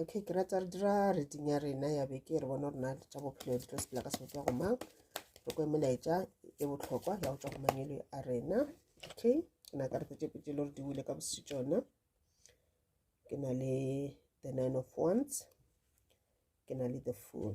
okay ke rata re dira reading ya rena ya beke re bona rona tša bophelo di tlo sepela ka seo tswa go mang re kwe melaetša e botlhokwa ya go tswa go mangelo a rena okay ke na ka re tse petse le gore di wile ka bosiu tsona ke na le the nine of wands ke na le the fool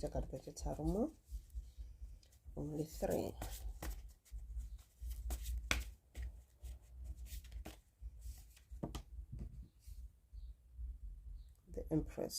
tša karata tše tharo mo only three the empress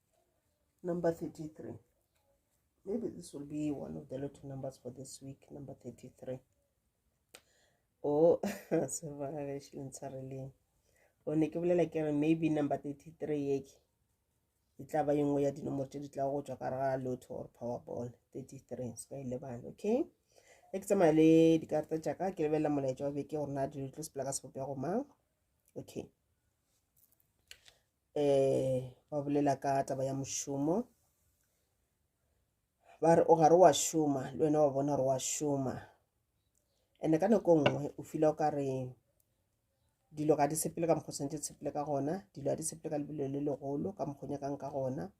Number 33. Maybe this will be one of the lotto numbers for this week, number 33. Oh, so really. o ne ke bolela ke re maybe number 33 yeke e tla ba yengwe ya dinomoro tse di tla go tswa ka re ga lotho or powerball 33 se ka e lebane okay e ke tsamaya le dikarata tša ka ke lebelela molaetša wa beke gore na dilo tlo sepela ka sebopego mang okay um ba bolela ka taba ya mošomo ba re o gare wa šoma le wena wa bona gore wa šoma and ka nako nngwe o fila o ka re dilo ga di sepele ka mokgwa tshwanetse sepele ka gona dilo ga di sepele ka lebelo le legolo ka mokgwa nyakang ka gona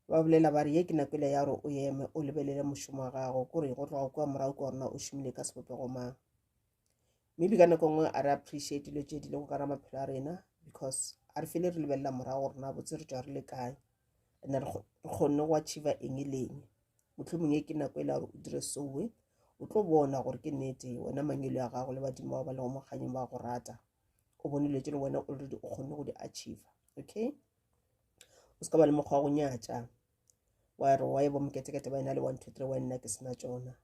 ba bolela ba re ye ke nakele ya gore o eme o lebelele mošomo wa gago kore go tloga kua morago ke gorena o šomile ka sebopego mang maybe ka nako nngwe a re appreciate dilo tše di lego ka ra maphelo a rena because a re fele re lebelela morago gore na botse re tswa re le kae and re kgonne go achieva eng e leng motlhomong e ke nako e le gore o dire soe o tlo bona gore ke nnete wena mangelo ya gago le badimo ba ba lego mokganyeng ba go rata o bone dilo tse le wena already o kgonne go di achieva okay o se ka ba le mokgwa wa go nyatša wa re wa e bo moketekete ba e na le one two three wa nna ke sena tsona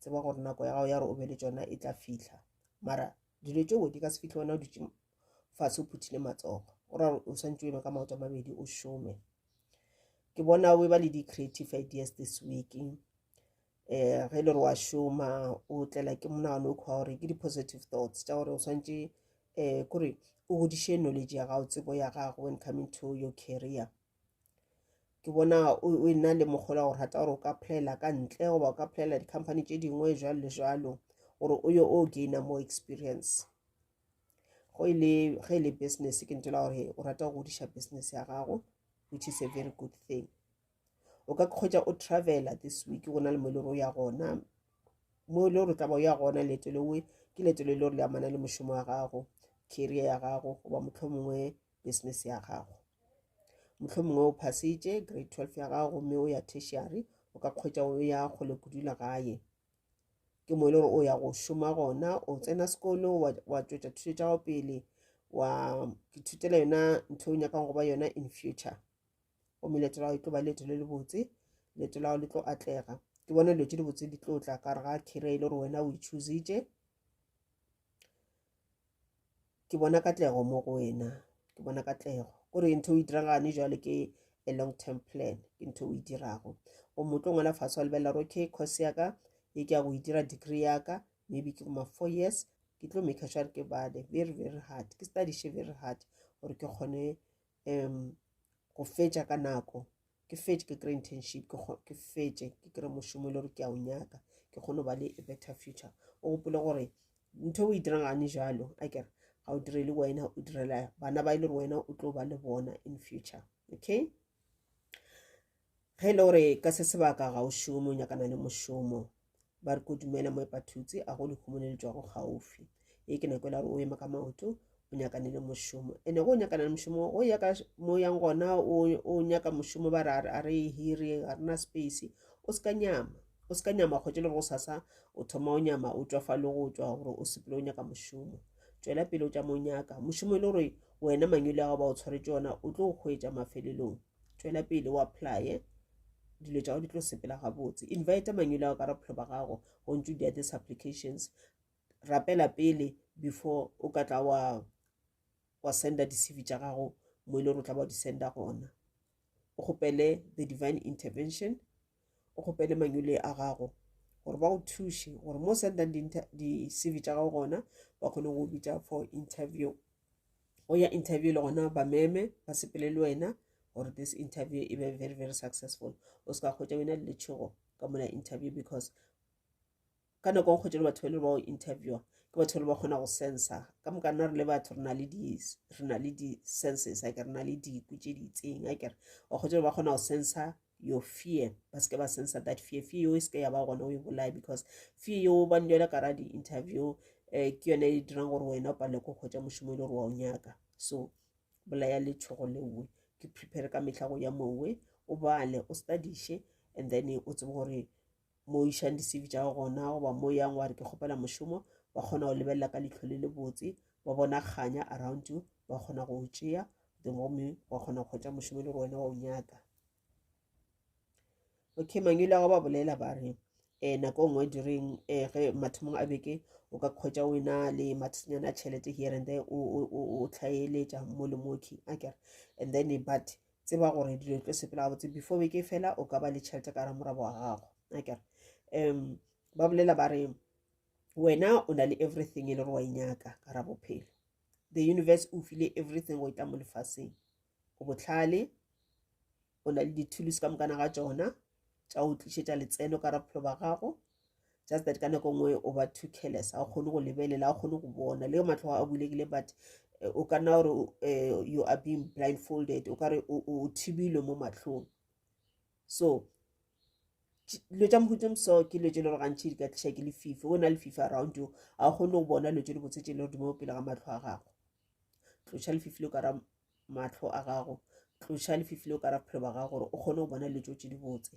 tseba gore nako ya gago ya gore o be le tšona e tla fihla mara dilo tšeo di ka se fihle wena o dutše fatshe o phuthile matsogo o ra o swantse o eme ka maoto a mabedi o šome ke bona o e ba le di-creative ideas this week um ge e le gore wa šoma o tlela ke monagano o kgwa gore ke di-positive thoughts tša gore o swantse um eh, kore o godiše knowledge ya gago tsebo ya gago when coming to your career ke bona o e na le mogola gore rata gore o ka playela ka ntle goba o ka playela di-company tše dingwe jalo le jalo gore o yo o gaina more experience go e le ge e le business ke ntela gore o rata go godiša business ya gago which is a very good thing o ka kgwetsa o travela this week go na le mo e le gore o ya gona mo e le gore tla ba o ya gona leeto lewe ke leeto le le gore le amana le mošomo wa gago career ya gago goba motlho mongwe business ya gago mohlomongwe o phasitše grade 12 ya gago gomme o ya tertiary o ka kgwetša o ya kgole kudula gae ke mo e le gore o ya go šoma gona o tsena sekolo wa tšwetša thuto tša gago pele wa ithutela yona ntho o nyakang go ba yona in future gomme leeto la gago e tlo ba leeto le le botse leeto la gago le tlo atlega ke bona dilo tse dibotse di tlo tla ka re ga kere e le gore wena o ichusitše ke bona katlego mo go wena ke bona katlego gore ntho o e diragane jwale ke a long term plan ke ntho o e dirago o motlo ngwana fatshe wa lebelela gore okay course ya ka ye ke ya go e dira degree ya ka maybe ke ma four years ke tlo make sure ke bale very very hard ke studiše very hard gore ke kgone um go fetša ka nako ke fetše ke kry internship ke fetše ke kry mošomo e le gore ke a o nyaka ke kgone go ba le a better future o gopole gore ntho e o e dirang gane jalo a kere ga o direle wena o direla bana ba e le gore wena o tlo ba le bona in future okay Ge e le gore ka se sebaka ga o šome o nyakana le mošomo, ba re ko dumela mo epathutse a go lehumo le le tšwago gaufi. E ke nako e la gore o ema ka maoto o nyakane le mošomo ene go nyakana le mošomo go ya ka mo yang gona o nyaka mošomo ba re a re e hire ga rena space o se ka nyama o se ka nyama kgwetse le gore o sasa o thoma o nyama o tswa fa le go tswa gore o sepele o nyaka mošomo tswela pele o tša mo nyaka mošomo e le gore wena manyole a go ba o tshwaretse ona o tlo go hwetša mafelelong tšwela pele o applye dilo tša go di tlo sepela gabotse invite manyolo ao ka ra bophelo ba gago go ntse di this applications rapela pele before o ka tla wa wa senda di-cv tša gago mo e le gore o tla ba di senda gona o kgopele the divine intervention o kgopele manyole a gago gore ba go thuše gore mo sendang di-cv tša gago gona ba kgone go bitša for interview go ya interview le gona ba meme ba sepele le wena gore this interview e be very very successful o se ka kgwetsa wena le letšhogo ka mola interview because ka nako go kgwetše le batho ba le ba go interviewa ke batho ba le ba kgona go sensa ka moka nna re le batho re na le di-senses a ke re na le diku tše di itseng a kere wa kgwetše le ba kgona go sensa your fear ba seke ba sensa that fear fear yeo e seke ya ba gona o e bolaye because fear yeo ba njela ka ra di-interview um ke yone e dirang gore wena o palele ko kgwetša mošomo e le gore wa o nyaka so bolaya letshogo leowe ke prepare ka mehla go ya mowe o bale o studiše and then o tsebe gore mo o išang di-cv tša go gona goba mo yang wa re ke kgopela mošomo ba kgona go lebelela ka leitlho le le botse ba bona kganya around you ba kgona go o tšea then gomme wa kgona go kgwetsa mošomo le go wena wa o nyaka okay mangwele a go ba bolela ba re um nako nngwe direng um eh, ge mathomong a beke o ka kgwetsa wena le mathinyana a tšhelete here and there o tlhaeletša mo le moki a kere and then but tseba gore dilo tlo sepela gabotse before beke fela o ka ba le tšhelete ka ramorabo wa gago akere um ba bolela ba re wena o na le everything e le gore wa inyaka e ka ra bophelo the universe o file everything go e tla mo lefaseng o botlhale o na le dithulusi ka mokana ga tsona tša o tlišetša letseno ka raphelo ba gago just that ka nako nngwe o ba too careless a o kgone go lebelela a kgone go bona le matlho a bulegile but eh, o ka nna gore eh, you are being blindfolded o ka re o thibilwe mo matlhong so dilo tša mohuto moso ke dilo tše le gore gantšhi di ka tliša ke lefifi o na le fifi around you a o kgone go bona dilo tše di botse tše le gore di mo pele ga matlho a gago tloša lefifi le o ka ra mahlo a gago tloša lefifi leo ka ra bophelo ba gago gore o kgone go bona dilo tse di botse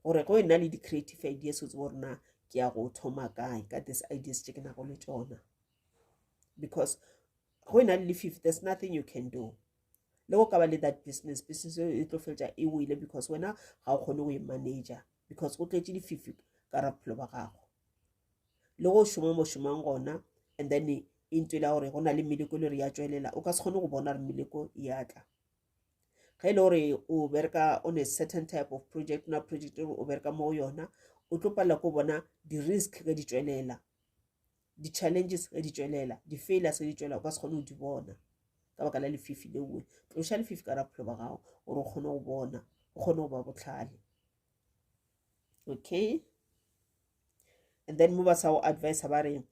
gore go e nna le di-creative ideas o tsebo gore na ke ya go thoma kae ka this ideas tse ke nago le tsona because go e na le lefifi there's nothing you can do le go ka ba le that business business e tlo feletsa e wele because wena ga o kgone go e manager because go tletše dififi ka ra bophelo ba gago le go šoma mo šomang gona and then into e la gore go na le meleko e le gore ya tswelela o ka se kgone go bona gore meleko e ya tla ge e le gore o bereka on a certain type of project na project e o bereka mo go yona o tlo palela ko bona di-risk ge di tswelela di-challenges ge di tšwelela di-failures ge di tšwelela o ka se kgone go di bona ka baka la lefifi le nngwe tloša lefifi ka raphelo ba gago gore o kgone go bona o kgone go ba botlhale okay and then mo ba sa go advisa ba re um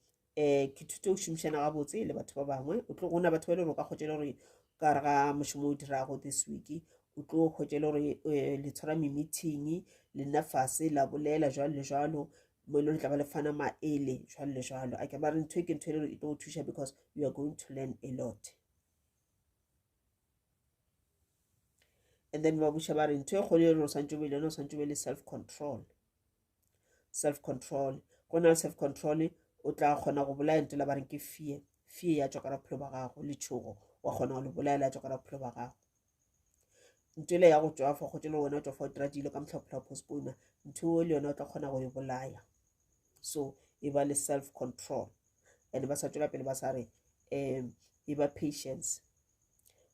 ke thute go šomišana gabotse le batho ba bangwe o tlo gona batho ba e le gore o ka kgotšele gore ka re ga mošomo o dirago this week o tlo kgotšele gore eh, le tshwara me-meeting le nna fase la bolela jalo le jalo mo e le le tla ba le fana maele jwalo le jwalo a ke ba re ntho e ke ntho e le e tlo thuša because you are going to learn a lot and then ba buša ba re ntho e kgolo e re o swantse o be le yone o swantse o be le self control self control go na le self control o tla kgona go bolaya ntela ba reng ke fear fear ya tswa ka bophelo ba gago le tšhogo wa kgona go le bolaela ya tswa ka bophelo ba gago ntho ele ya go tšwafa go tšele wena o tšwafa o dira dilo ka mohlaphola postpone ntho o le yone o tla kgona go e bolaya so e ba le self control and ba sa tšwela pele ba sa re um e ba patience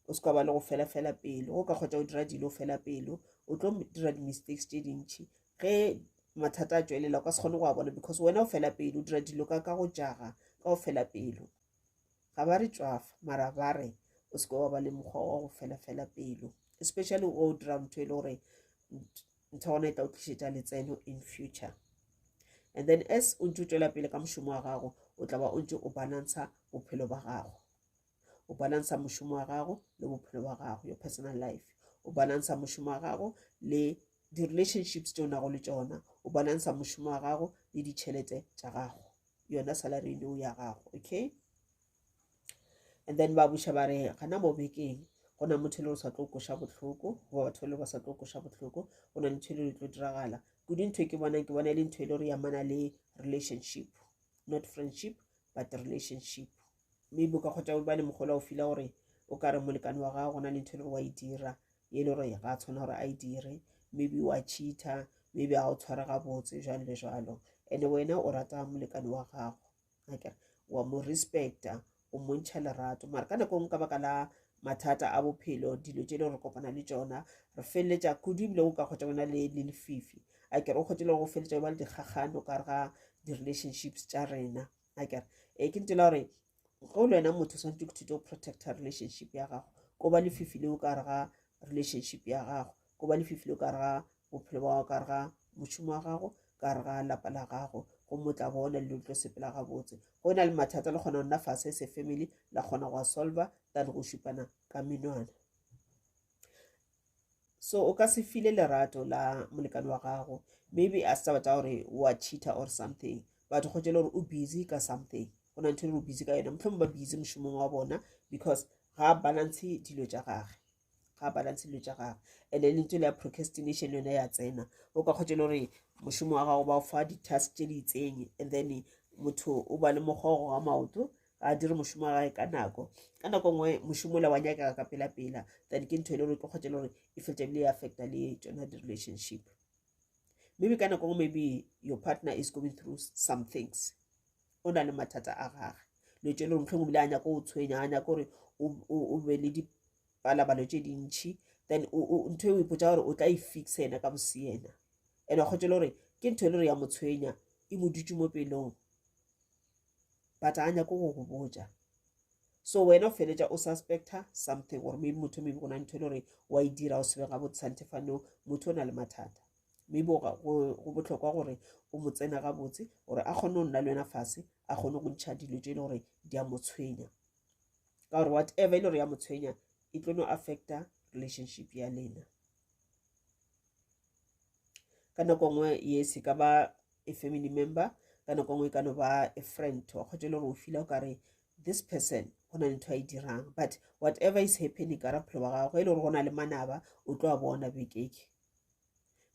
o se ka ba le go fela fela pelo o ka kgotsa o dira dilo fela pelo o tlo dira di-mistakes tše dintšhi ge mathata a tšwelela o ka se kgone go a bona because wena o fela pelo o dira dilo ka ka go jaga ka go fela pelo ga ba re tšwafa mara ba re o seke wa ba le mokgwa wa go felafela pelo especially o dira ntho e le gore ntho gona e tla o tlišetša letseno in future and then as o ntse o tšwela pele ka mošomo wa gago o tla ba o ntse o balansa bophelo ba gago o balansa mošomo wa gago le bophelo ba gago your personal life o balansa mošomo wa gago le di-relationships tse o nago le tsona o balansa mošomo wa gago le ditšhelete tša gago yona salary eno ya gago okay and then ba buša ba re gana mo bekeng go na motho e le o sa tlo koša bohloko goba batho le ba sa tlo koša bohloko go na le ntho e le tlo diragala kudu ntho e ke bonang ke bona e le ntho e le gore yamana le relationship not friendship but relationship maybe o ka kgotsa o ba le mogolo o fila gore o ka re molekane wa gago gona le ntho e le gore wa e dira e le gore ga a tshwana gore a e dire maybe wa cheater maybe ga o tshware gabotse jalo le jalo and-e wena o rata molekane wa gago akere wa mo respecta o montšha lerato mara ka nako ngwe ka baka la mathata a bophelo dilo tse e le gore kopana le tsona re feleletsa kudu ebile o ka kgotsa bona le lefifi a kere o kgotse le go feleletsa ba le dikgagano ka re ga di-relationships tša rena a kere e ke ntela gore ge o le wena motho o swanetse go thuto protecta relationship ya gago ko ba lefifi le o ka re ga relationship ya gago ko ba lefifi le o ka re ga bophelo ba gago ka re ga mošomo wa gago ka re ga lapa la gago go motla bona le tlo sepela gabotse go na le mathata le kgona go nna fase se family la kgona go a solva than go šupana ka menwana so o ka se file lerato la molekane wa gago maybe a setaba tsa gore wa cheater or something but go tšele gore o busy ka something go na ntho e o busy ka yona motlhong ba busy mošomong wa bona because ga balance dilo tša gage ga balance dilo tša gage and then ntse le procrastination yone ya tsena o ka kgotse le gore mošomo wa gago ba o fa di-task tše di itseng and then motho o ba le mokgogo wa maoto ga a dire mošomo wa gae ka nako ka nako nngwe mošomo le wa nyakega ka pela-pela then ke ntho e le gore ke kgotse le gore e fetsa ebile e affecta le tsona di-relationship maybe ka nako nngwe maybe your partner is going through some things o na le mathata a gage le tse le gore motlhong ebile a nyako o tshwenya a nyako gore o be le dipalabalo tse dintšhi then ntho e o ipotsa gore o tla e fixa ena ka boseena and wa kgotse le gore ke ntho e le gore ya mo tshwenya e mo dutse mo pelong but a nyako go go botša so wena o feletša o suspecta something gore maybe motho maybe go na ntho e le gore wa e dira o sebe ga botse santefano motho o na le mathata maybe go botlhokwa gore o mo tsena ga botse gore a kgone go nna le wena fase a kgone go ntšha dilo tse e le gore di a mo tshwenya ka gore whatever e le gore ya mo tshwenya e tlo no affecta relationship ya lena ka nako nngwe yes e ka ba a family member ka nako nngwe e ka no ba a friend wa kgwetsa e le gore o fila o kare this person go na le ntho a e dirang but whatever is happening ka raphelo wa gago ge e le gore go na le manaba o tlo a bona bekeke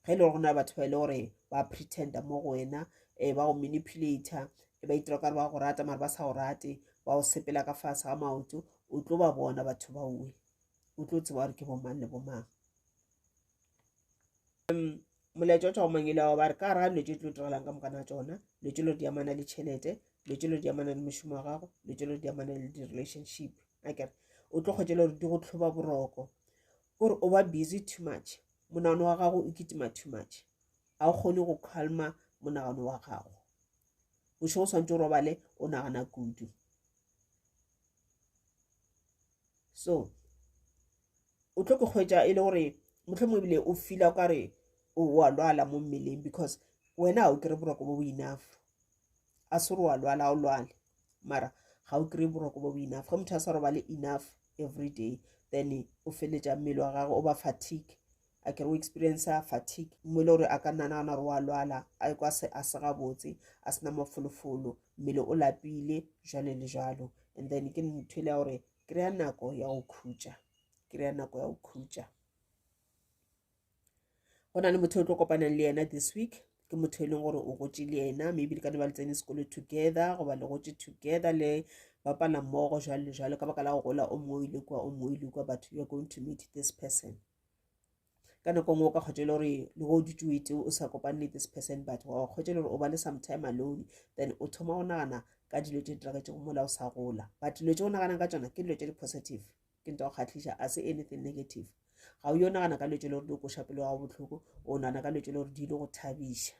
ge e le gore go na le batho ba e le gore ba pretenda mo go wena um ba go manipulata e ba itira kare ba go rata mare ba sa go rate ba go sepela ka fase ga maoto o tlo ba bona batho baowe o tlo tseba gore ke bomang le bomang molaetša o thwa mangele ao ba re ka ra lwetše tlo direlang ka mokana tsona lwetše lo di amana le tšhelete lwetše lo di amana le mošomo wa gago lwetše lo di amana le di-relationship a kere o tlo kgwetšela gore di go tlhoba boroko kore o ba busy too much monagano wa gago o kitima too much ga o kgone go calma monagano wa gago bošego o tshwanetse o robale o nagana kudu so o tlo ke kgwetša e le gore mohlomong ebile o fila o ka re wa lwala mo mmeleng because wena ga o kry boroko bo bo enough a se gore wa lwala ga o lwale mara ga o kry boroko bo bo enough ge motho a sa robale enough every day then o feletša mmele wa gagwe o ba fatigue a kere o experience fatigue mo e le gore a ka nna nagana gore wa lwala a kwa se a se gabotse a sena mafolofolo mmele o lapile jalo le jalo and then ke ntho e le ya gore kry-a nako ya go khutša kry-a nako ya go khutša go na le motho o tlo kopanang le yena this week ke motho e leng gore o gotse le yena maybe le ka ne ba le tsene sekolo together goba le gotse together le bapala mmogo jwalo le jwalo ka baka la go gola o mongwe o ile kua o mongwe o ile kua but you're going to meet this person ka nako nngwe o ka kgotšele gore le go dutse o ete o sa kopane le this person but wa kgotšele gore o ba le some time alone then o thoma go nagana ka dilo tse di diragetsego mola o sa gola but dilo tse o naganang ka tsona ke dilo tse di-positive ke nto go kgatlhiša a se anything negative ga o yo nagana ka dilo tse le gore di o koša pelo gago botlhoko o nagana ka dilo tse le gore di ile go thabiša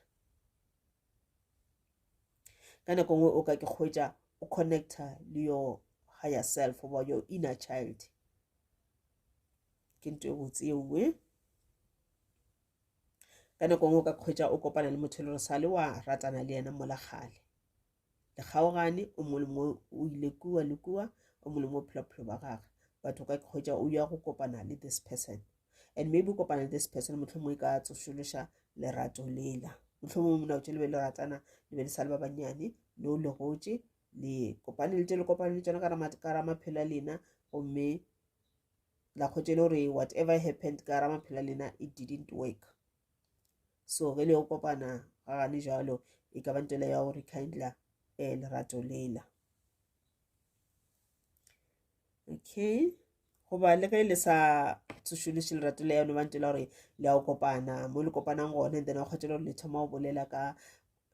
ka nako nngwe o ka ke kgwetsa o connecta le your higher self goba your inner child ke nto e botse ewe ka nako ngwe o ka kgwetsa o kopana le motho e le gore sale wa ratana le yena mola gale le kgaogane o mongwe le mongwe o ile kua le kua o mongwe le mongwe phela bophelo ba gage but o ka kgwetsa o ya go kopana le this person and maybe o kopana le this person motlho mongwe e ka tsošološa lerato lela motlho mongwe mona o tse le be le ratana le be le sa le ba bannyane le o legotse le kopane le tse le kopane le tsona ka ramaphelo a lena gomme la kgotse le gore whatever happened ka ra maphela lena it didn't work so ge le yo kopana ga gane jalo e ka ba ntele ya gore kindla e eh, lerato lela okay goba le ge le sa tsošološe lerato le yone bantse la gore le ya go kopana mo le kopanang gone then wa kgotse le gore le thoma go bolela ka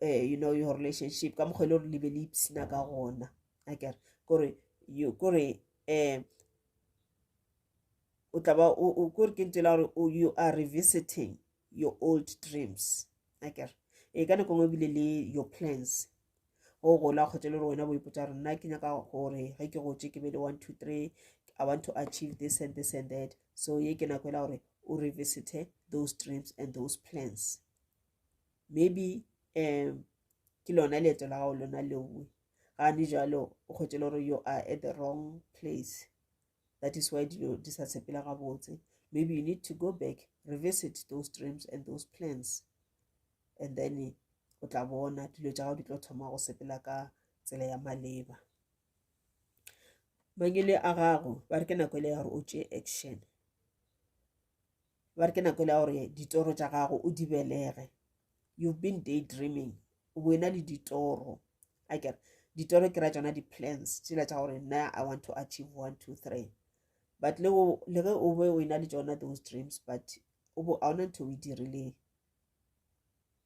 um you know your relationship ka mokgwa e le gore le be le ipsina ka gona akere kore kore um o tla ba o kore ke ntela gore you are revisiting your old dreams a kere e ka nako ngwe bile le your plans go gola kgotsa le gore wena bo ipotsa gore nna ke nyaka gore ge ke gotse ke be le one two three i want to achieve this and this and that so ye ke nako ela gore o revisite those dreams and those plans maybe um ke lona leeto la gago lona leoe ga di jalo o kgwetše le gore you are at the wrong place that is why dilo di sa sepela gabotse maybe you need to go back revisit those dreams and those plans and then o tla bona dilo tša gago di tlo thoma go sepela ka tsela ya maleba mangele a gago ba re ke nako e le ya gore o tšee action ba re ke nako le ya gore ditoro tša gago o di belege you've been day dreaming o bo ena le ditoro a kere ditoro ke ra tsona di-plans tsela tša gore nna i want to achieve one two three but le ge o be o ena le tsona those dreams but o bo a ona ntho o e dirileng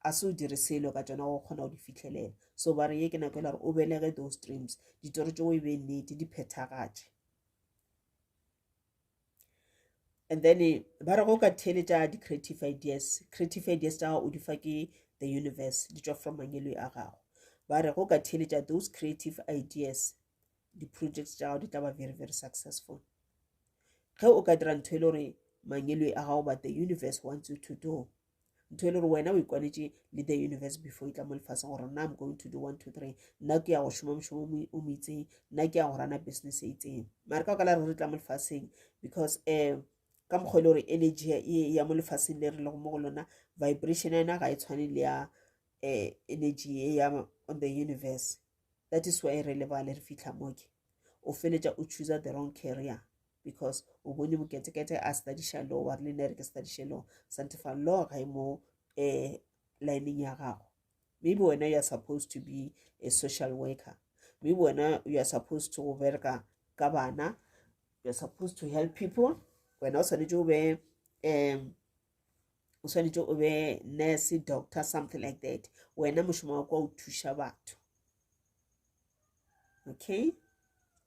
a se o dire selo ka tsona go kgona go di fitlhelela so ba re ye ke nako e le gore o belege those dreams ditoro tse o e be nnete di phethagatše and then eh, ba re go ka theeletša di-creative ideas creative ideas tša gago o di fa ke the universe di tšwa from mangelo a gago ba re go ka theeletša those creative ideas di-projects tša gago di tla ba very very successful ge o ka dira ntho e le gore mangelo a gago but the universe wants you to do ntho e le gore wena o ikwanetše le the universe before e tla mo lefase gore nna i'm going to do one two three nna ke ya go šoma mošomo o mo itseng nna ke ya go rana business e itseng mare ka okala re re tla mo lefaseng because um ka mokgwa e le gore energy e ya mo lefaseng le re lego mo go lona vibration ya yona ga e tshwane le ya um energy e ya on the universe that is why re lebale re fitlha moke o feletša o chooser the wrong carrier because o bone moketekete a studiša law wa re le nere ke studiše law santefa law ga e mo um lineng ya gago maybe wena you are supposed to be a social worker maybe wena you are supposed to bereka ka bana you are supposed to help people wena o swanetše o be um o swanetše o be nurse doctor something like that wena mošomo wa kwa o thuša batho okay